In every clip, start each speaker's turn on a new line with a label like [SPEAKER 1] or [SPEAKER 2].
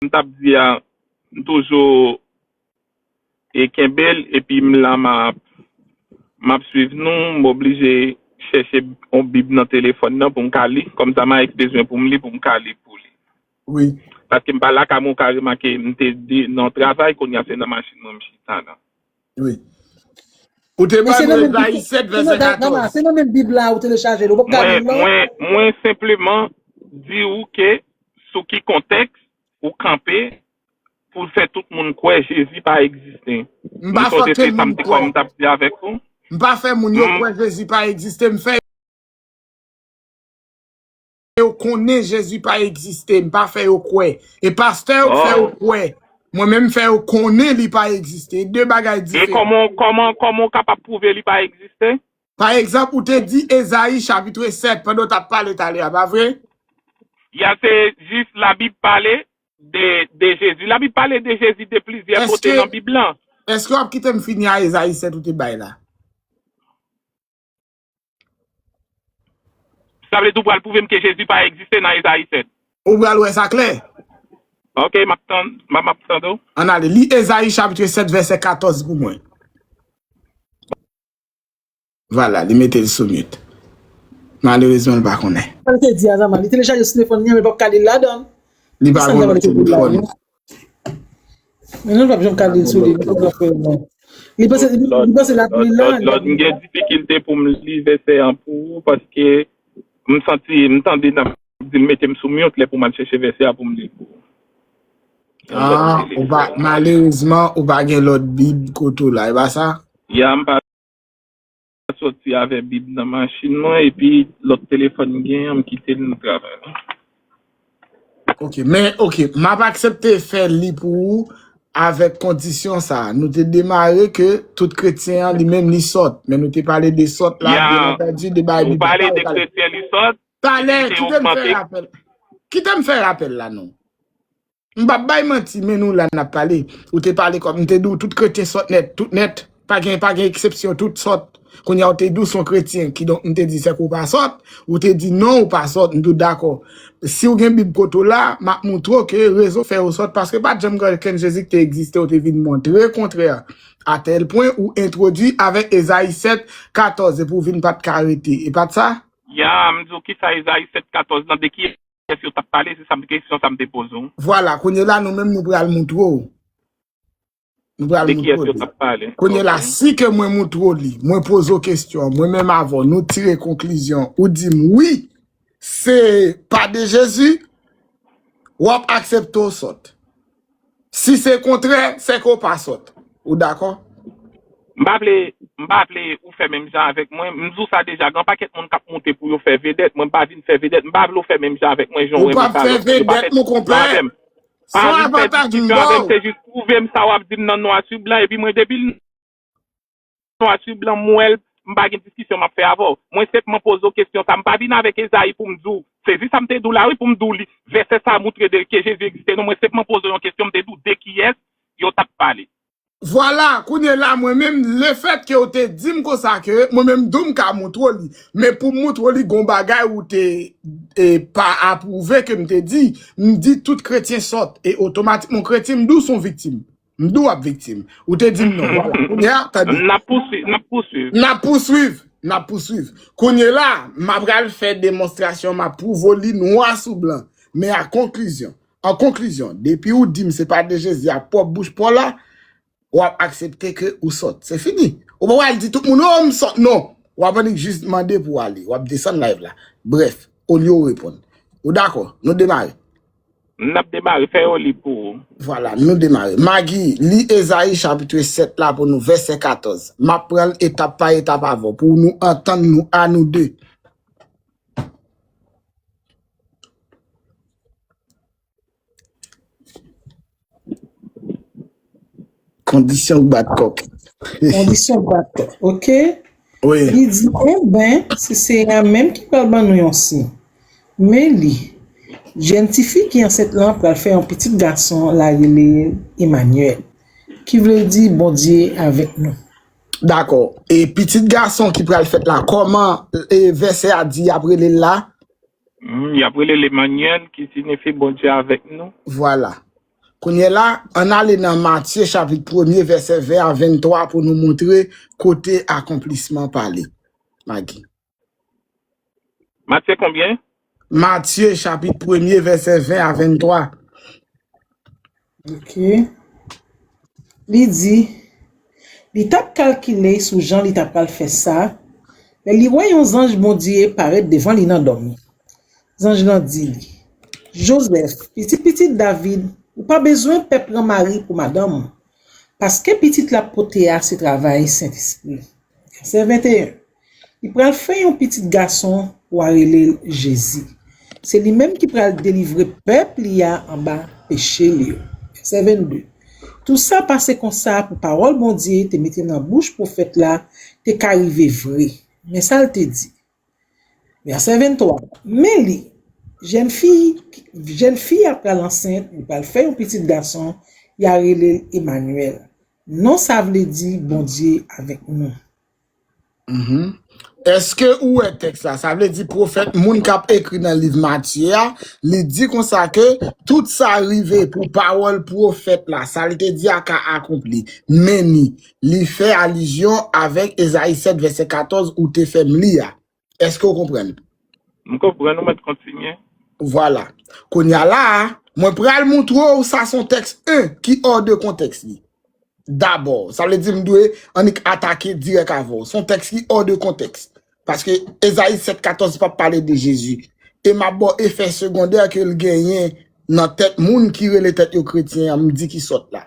[SPEAKER 1] m tap di a m toujou e kenbe l epi m la map map swiv nou m oblije chèche yon bib nan telefòn nan pou m ka li kòm sa Maes bezwen pou m li pou m ka li pou li wi
[SPEAKER 2] paske m pa lakay
[SPEAKER 1] mwen ou ka remake m te di nan travay kounya se nan machin mwen m chita la.
[SPEAKER 2] Wi. Ou te Men se bann nan menm Reza bib la, Isèt se vèsè nan da, dama, 14. se nan menm bib la ou
[SPEAKER 3] telechaje l, ou pap gad Mwen, bib la? mwen, mwen
[SPEAKER 1] senpleman di ou ke sou ki kontèks ou kanpe pou fè tout moun kwè Jezi pa egziste. M Ou pa fè sonje se okenn
[SPEAKER 2] sa m moun te kwè. kòm t ap di avèk
[SPEAKER 1] ou? M pa fè moun yo
[SPEAKER 2] M kwè Jezi pa egziste, m fè. yo konnen Jezi pa egziste, m pa fè yo kwè. E pastè yo k fè yo kwè. Mwen menm m fè yo konnen li pa egziste. E 2 bagay diferan. E kòman, kòman ou
[SPEAKER 1] kapab pwouve li pa egziste? Pa egzanp, ou
[SPEAKER 2] te di Ezayi chapitre 7 pandan w t ap pale talè a, pa vre? Ya,
[SPEAKER 1] se jis Labib pale de, de Jezi. Labib pale de Jezi de plizyè kote nan Bib lan. Eske, eske w ap kite
[SPEAKER 2] m fini a Ezayi 7 ou te bay la?
[SPEAKER 1] Sa vle di ou pral pwouve m ke Jezi pa egziste nan Ezayi 7? Ou pral wè sa
[SPEAKER 2] klè. Ok,
[SPEAKER 1] m ap tann, m ap tande w. Ann ale, li
[SPEAKER 2] Ezayi chapitre 7 vèsè 14 pou mwen. Vwala, li mete l sou mute. Malerezman l pa konnen. Sa l te di a Zama? Li
[SPEAKER 3] telechaje sitefòn li an men l pap ka li l ladan l. Li pa konnen
[SPEAKER 2] sitefòn.
[SPEAKER 3] Men nou pap jom kale sou li li pap fè l non. Li panse li panse l ap li la. Lòd m gen difikilte
[SPEAKER 1] pou m li vèsè an pou ou paske m santi m tande nan di m mete m sou mute lè pou m al chèche vèsè a pou m li l pou ou.
[SPEAKER 2] Ah ou pa malerezman ou pa gen lòt bib kote w la e pa sa? Ya m pa.
[SPEAKER 1] Mwen soti avè bib nan machin mwen epi lòt telefòn m genyen an m kite l nan travay mwen.
[SPEAKER 2] Ok men ok map aksepte fè li pou ou avèk kondisyon sa nou te demare ke tout kretyen an li menm li sòt men nou te pale de sòt la byen antandi de bay bib la talè. Ou pale de kretyen li sòt? Talè
[SPEAKER 1] kite m
[SPEAKER 2] fè rapèl kite m fè rapèl la non. M pap bay manti men nou la nap pale ou te pale kòm m te di w tout kretyen sòt nèt tout nèt pa gen pa gen eksepsyon tout sòt kounya w te di w s on kretyen kidonk m te di sèke w pa sòt ou te di non ou pa sòt m tou dakò si w gen bib kote w la m ap moutre w ke rezon fè w sòt paske pat janm gen okenn jezi ki te egziste w te vin montre kontrè a tèl pwen ou entwodui avèk ezayi 7 14 epi w vin pat ka rete e pat sa? Ya m di w kisa
[SPEAKER 1] ezayi 7 14 lan de ki. Kès yo tap pale, se sa m kesyon sa m te poze w. Vwala, kounye la
[SPEAKER 2] nou menm nou pral moutre w. Nou pral De kiyès moutre w yo li. tap pale? Kounye la, Ok. si ke mwen moutre w li, mwen poze w kesyon an, mwen menm avè w, nou tire konklizyon, ou di m wi, se pa de Jezi, wap aksepte w sòt. Si se kontrè, sèke ou pa sòt. Ou dakò? M pa vle, m pa
[SPEAKER 1] vle ou fè menm jan avèk mwen. M di w sa deja, gen yon pakèt moun k ap moute pou yo fè vedèt. Mwen m pa vin fè vedèt. M pa vle ou fè menm jan avèk mwen, jan w Ou pa renmen ap fè fè lòt moun. Ou pa vedèt,
[SPEAKER 2] fè monkonpè. diskisyon avè m. Pa Son vin fè avantaj m diskisyon ba avè m. w. Se jis pwouve m sa
[SPEAKER 1] w ap di m nan nwa sou blan. Epi mwen depi l. Arthur blan mwèl m pa gen diskisyon map fè avèw mwen senpman poze w kesyon sa m pa vin avèk Ezayi poum di w sezi sa m te di w la wi poum di w li vèsè sa moutre de ke Jezi egziste non mwen senpman poze w yon kesyon m te di w de kiyès yo tap pale. Vwala,
[SPEAKER 2] kounye la mwen menm lefèt ke w te dim konsa ke mwen menm tou m ka moutre w li men poum moutre w li gon bagay ou te pa apwouve ke m te di m di tout kretyen sòt e otomatikman yon kretyen m di w son viktim. M di w ap viktim. Ou te di m non. Kounye a, tande. N ap pouswiv. N ap pouswiv. N ap pouswiv. N ap pouswiv. Kounye la, m ap pral fè demonstrasyon, m ap pwouve w li nwa sou blan. Men a konklizyon. An konklizyon, depi ou di m se pa de Jezi a pwòp bouch pa w la, w ap aksepte ke ou sòt. Se fini. Ou pa pral di tout moun, o, m sòt non. W ap annik jis mande pou w ale. W ap desann live la. Brèf, olye w reponn. Ou dakò? Nou demare. M nap
[SPEAKER 1] demare, fè yo li pou ou. Vwala, nou demare.
[SPEAKER 2] Magi, li Ezayi chapitre 7 la pou nou, vèsè 14. M ap pran l etap pa etap avè w pou nou antann nou a nou de. Kondisyon k bat kòk. Kondisyon
[SPEAKER 3] k bat kòk. Ok. Wi. Li
[SPEAKER 2] di, e
[SPEAKER 3] ben, se Seyè a menm ki pral ban nou yon siy. Men li, jèn ti fi ki ansent lan pral fè yon pitit gason, l a rele l Emanyèl, ki vle di Bondye avèk nou. Dakò.
[SPEAKER 2] E pitit gason ki pral fèt la, kòman vèsè a di y ap rele l la?
[SPEAKER 1] Humm yap rele l Emanyèl ki sinifi Bondye avèk nou. Vwala.
[SPEAKER 2] Kounye la, ann ale nan Matye chapit premye vèsè 20 a 23 pou nou montre kote akonplisman pale. Magi.
[SPEAKER 1] Matye konbyen? Matye
[SPEAKER 2] chapit premye vèsè 20 a
[SPEAKER 3] 23. Ok. Li di, Li t ap kalkile sou jan li t apral fè sa, lè li wè yon zanj Bondye parèt devan li nan dòmi. Zanj lan di li, Jozèf, pitit pitit David, ou pa bezwen pè pran Mari pou madanm ou, paske pitit l ap pote a se travay Sentespri. Vèsè 21. Li pral fè yon pitit gason, w a rele l Jezi. Se li menm ki pral delivre pèp li a anba peche l yo. Vèsè 22 Tou sa pase konsa pou pawòl Bondye te mete nan bouch pwofèt la te ka rive vre. Men sa l te di, vèsè 23, Men li, jèn fi, jèn fi a pral ansent, li pral fè yon pitit gason, y a rele l Emanyèl. Non sa vle di, Bondye avèk nou.
[SPEAKER 2] Eske ou wè tèks la, sa vle di pwofèt moun kap ekri nan liv Matye a, li di konsa ke tout sa rive pou pawòl pwofèt la, sa l te di a ka akonpli. Meni, li fè alizyon avèk Ezayi 7 vèsè 14 ou te fè m li a. Eske ou konprann? M konprann,
[SPEAKER 1] ou mèt kontinye. Vwala.
[SPEAKER 2] Kounya la a, mwen pral moutre ou sa son tèks 1 ki or de kontèks li. Dabò, sa vle di m dwe annik atake dirèk avè ou. Son tèks ki or de kontèks. Paske Ezayi 7, 14 pa pale de Jezi. E m ap ba w efè segondè ke l genyen nan tèt moun ki rele tèt yo kretyen an, m di ki sòt la.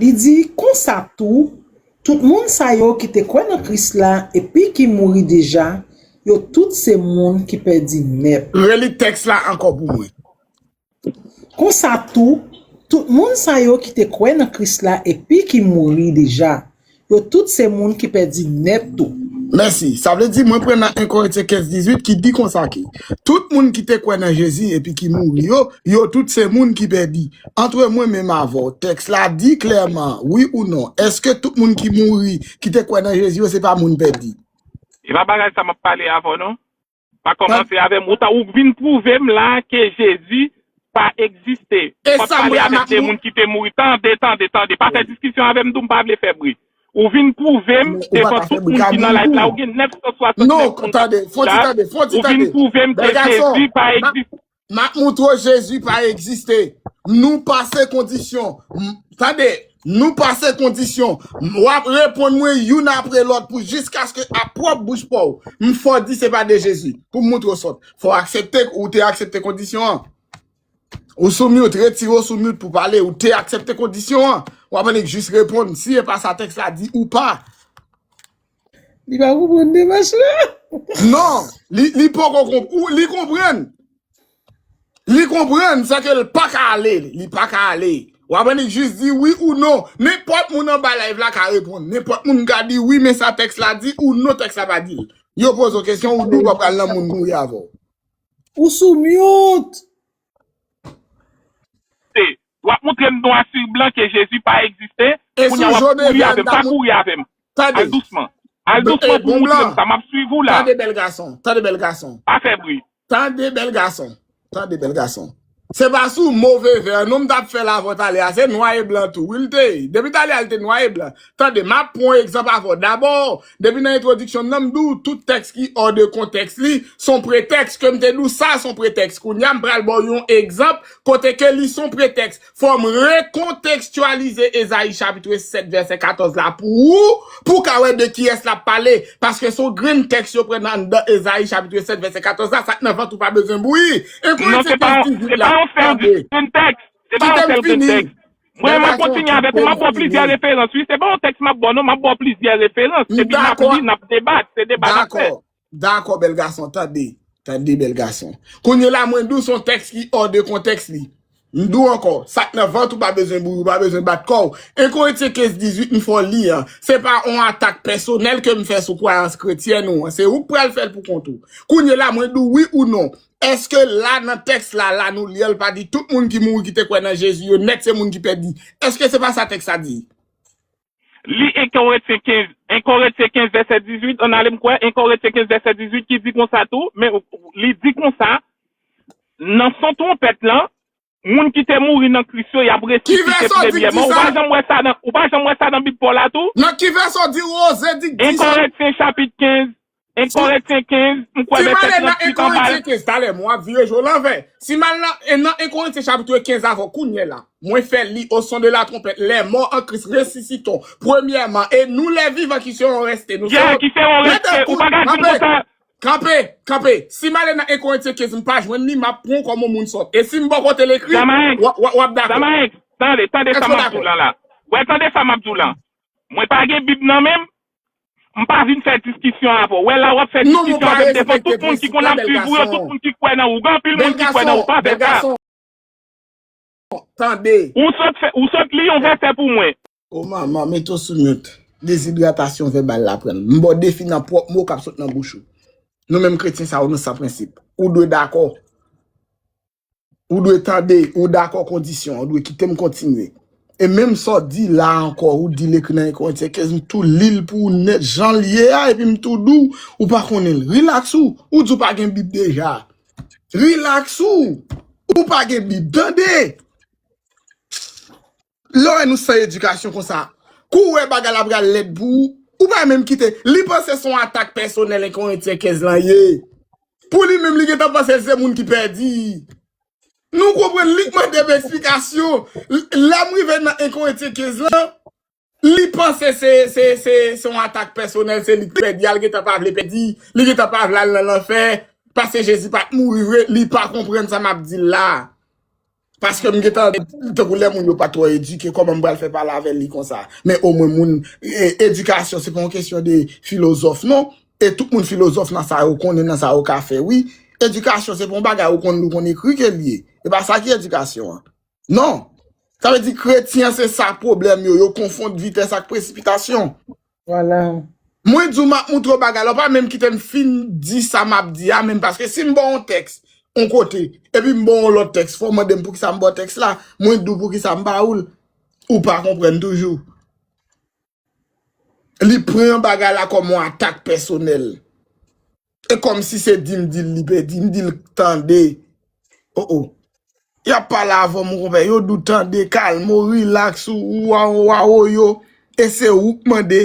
[SPEAKER 3] Li di, Konsa tou, tout moun sa yo ki te kwè nan Kris la epi ki mouri deja, yo tout se moun ki pèdi nèt. Reli tèks la
[SPEAKER 2] ankò pou mwen.
[SPEAKER 3] Konsa tou, tout moun sa yo ki te kwè nan Kris la epi ki mouri deja, Yo tout se moun ki pèdi nèt tou. Mèsi. Sa vle di
[SPEAKER 2] mwen pran nan 1 Korentyen 15, 18 ki di konsa ke tout moun ki te kwè nan Jezi epi ki mouri yo, yo tout se moun ki pèdi. Antre mwen menm avè w, tèks la di klèman, wi ou non, èske tout moun ki mouri, ki te kwè nan Jezi yo se pa moun pèdi? Se pa bagay
[SPEAKER 1] sa m ap pale avè w non. Pa kòmanse avèm ou ta ou k vin pwouvem la ke Jezi pa egziste. Ou pap pale avèk
[SPEAKER 2] de moun
[SPEAKER 1] ki
[SPEAKER 2] te
[SPEAKER 1] mouri tande tande tande pa fè diskisyon avèm mtou mpa vle fè bri. Ou vin pwouvem devan tout moun ki nan live la ou gen 969 moun kap koute
[SPEAKER 2] la ou vin pwouvem
[SPEAKER 1] ke Jezi pa egziste. Map moutre w
[SPEAKER 2] Jezi pa egziste. Nou pase kondisyon. Tande, nou pase kondisyon. Wap reponn mwen youn apre lòt pou jiskaske a pwòp bouch pa w, m fè w di se pa de Jezi. Pou m moutre w sòt. Fò w aksepte k ou te aksepte kondisyon an. Ou sou mute, retire w sou mute pou pale. Ou te aksepte kondisyon an. Wap annik jis reponn si e pa sa tèks la di ou pa.
[SPEAKER 3] Li pa konprann demach la. Non,
[SPEAKER 2] li li poko konp ou li konprann. Li konprann sa ke l pa ka ale, li pa ka ale. Ou aprann li jis di wi ou non. Nenpòt moun anba live la ka reponn. Nenpòt moun ka di wi men sa tèks la di ou non tèks la pa di l. Yo poze w kesyon ou di w pa pral nan moun kouri avè w. Ou sou
[SPEAKER 3] mute.
[SPEAKER 1] Wap moutrem nwa sur blan ke Jezi pa egziste, E kounya sou wap Joe kouri Devian
[SPEAKER 2] avèm, ta pa mout kouri avèm. Al
[SPEAKER 1] Tande dousman. Al Bl e dousman pou bon moutrem blan sa, map swiv ou la. Tande bèl gason, tande
[SPEAKER 2] bèl gason. Pa fè bri.
[SPEAKER 1] Tande bèl
[SPEAKER 2] gason, tande bèl gason. Se pa sou move vè non m tap fè lavòt ale a, se nwa e blan tou wi l te ye. Depi t ale a l te nwa e blan. Tande, m ap pran yon egzanp avè w. Dabò, depi nan entwodiksyon m nan, m di w tout tèks ki ò de kontèks li s on pretèks. Ke m te di w sa s on pretèks, kounye a m pral ba w yon egzanp kote ke li s on pretèks. Fò m rekontekstyalize Ezayi chapitre 7 vèsè 14 la pou ou, pou w ka wè de kiyès l ap pale. Paske s on grenn tèks yo pran nan anndan Ezayi chapitre 7 vèsè 14 la, sa k nan vant ou pa bezwen bouyi. Enkò, se pa yon sèl
[SPEAKER 1] grenn tèks. Tande, kite m fini. Mwen mwen kontinye avèk ou, m ap ba w plizyè referans wi, se pa yon tèks m ap ba w non, m ap ba w plizyè referans, epi n ap li, n ap debat, se debat n ap fè. Dakò, dakò bèl
[SPEAKER 2] gason, tande, tande bèl gason. Kounye la mwen di w se yon tèks ki hors de contexte li. M di w ankò, sa k nan vant ou pa bezwen bouyi, ou pa bezwen bat kò w. Enkoritye 15, 18 m fè w li an, se pa yon atak pèsonèl ke m fè sou kwayans kretyèn ou an, se ou k pral fè l pou kont ou. Kounye la mwen di w wi ou non, Eske la nan tèks la la nou li an li pa di tout moun ki mouri ki te kwè nan Jezi yo nèt se moun ki pèdi? Eske se pa sa tèks la di?
[SPEAKER 1] Li 1 Korentyen 15, 1 Korentyen 15 vèsè 18 ann ale m kwè, 1 Korentyen 15 vèsè 18 ki di konsa tou, men li di konsa, nan son twonpèt lan, Moun ki te mouri nan Kris yo, y ap Ki resisite vèsè w di k di premyèman. Ou sa? pa janm wè sa nan, ou pa janm wè sa nan Bib Pòl la tou? Nan ki vèsè w di
[SPEAKER 2] Rose di k 1 di sa? Kòrentyen chapit
[SPEAKER 1] 15, 1 Sou, Kòrentyen 15, m kwè si m vèsè ale nan
[SPEAKER 2] 1 38 anba l. Korentyen 15, talè mwen ap vire je w lanvè. Si m al nan, nan 1 Korentyen chapitre 15 avè w kounyela, mwen fè l li, oson de latwonpèt, lè mò an Kris resisitons premyèman, e nou lèvivan ki seron rèste, nou Gen, seron, ki seron rèste,
[SPEAKER 1] ou pa ka di l konsa, Kanpe! Kanpe!
[SPEAKER 2] Si m ale nan Enkorentyens m pa jwenn li, m ap pran w kòm yon moun sòt. E si m bò kote l ekri, Zamaex! w ap dakò. Zamaex! Tande, tande
[SPEAKER 1] sa Èske w m ap di dakò? w lan la. Wè, tande sa m ap di w lan. Mwen pa gen Bib nan men m, m pa vin fè diskisyon avè w. Wè la, w ap fè Non, mwen diskisyon pa avè m devan respekte tout moun ki prensip konn la, ap bèl swiv ou yo, tout gason. moun ki kwè nan ou. Gen anpil Bèl moun ki kwè nan gason, ou pa fè bèl sa. gason. Tande!
[SPEAKER 2] Ou sot
[SPEAKER 1] fè, ou sot li yon vèsè pou mwen. O manman, mete
[SPEAKER 2] w sou mute. Dezidratasyon vèbal la pran l. M ba w defi nan pwòp mo k ap sot nan bouch ou. Nou menm kretyen sa yo nou san prensip. Ou dwe dakò. Ou dwe tande. Ou dakò kondisyon an. Ou dwe kite m kontinye. E menm sa w di la a ankò, ou di l ekri nan 1 Korentyen 15, m tou li l pou ou nèt jan l ye a epi m tou di w, ou pa konnen l. Rilaks ou. Ou di w pa gen Bib deja. Relax ou, ou pa gen bib tande. Lè wè nou san edikasyon konsa, kou wè bagay la pral lèd pou ou, ou pa menm kite, li panse son atak pèsonèl 1 Korentyen 15 lan ye. Pou li menm li gentan panse l se moun ki pèdi. Nou konprann li k mande m esplikasyon, lè m rive nan 1 Korentyen 15 lan, Li panse se se yon atak pèsonèl se li ki pèdi a li gentan pa vle pèdi li gentan pa vle al nan lanfè paske Jezi pat mouri vre li pa konprann sa map dil la paske m gentan dil tankou lè moun yo pa twò edike kòman m pral fè pale avèl li konsa men omwen moun edikasyon se pa yon kesyon de filozòf non e tout moun filozòf nan sa yo konnen nan sa yo ka fè wi edikasyon se pa yon bagay ou konn li ou konn ekri ke li ye e pa sa ki edikasyon an. Non. Sa vle di kretyen se sa pwoblèm yo, yo konfond vitès ak presipitasyon. Vwala.
[SPEAKER 3] Mwen di w m
[SPEAKER 2] ap moutre w bagay la, ou pa menm kite m fin di sa m ap di a menm paske si m ba w yon tèks yon kote epi m ba w yon lòt tèks fò w mande m poukisa m ba w tèks la, mwen di w poukisa m ba w l, ou pa konprann toujou. Li pran bagay la kòm yon atak pèsonèl. E kòm si se di m di l li pèdi. M di l tande. O o. Y ap pale avè m konpè. Yo di w tande, kalme w, rilaks ou, ou a ou a ou yo. E se ou k mande.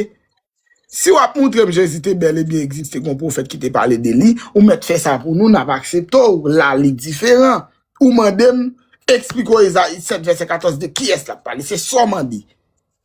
[SPEAKER 2] Si w ap montre m Jezi te bèl e byen egziste gon pwofèt ki te pale de li, ou mèt fè sa pou nou, n ap aksepte w. La li diferan. Ou mande m, eksplike w Ezayi 7 vèsè 14 de kiyès l ap pale. Se sa w mande.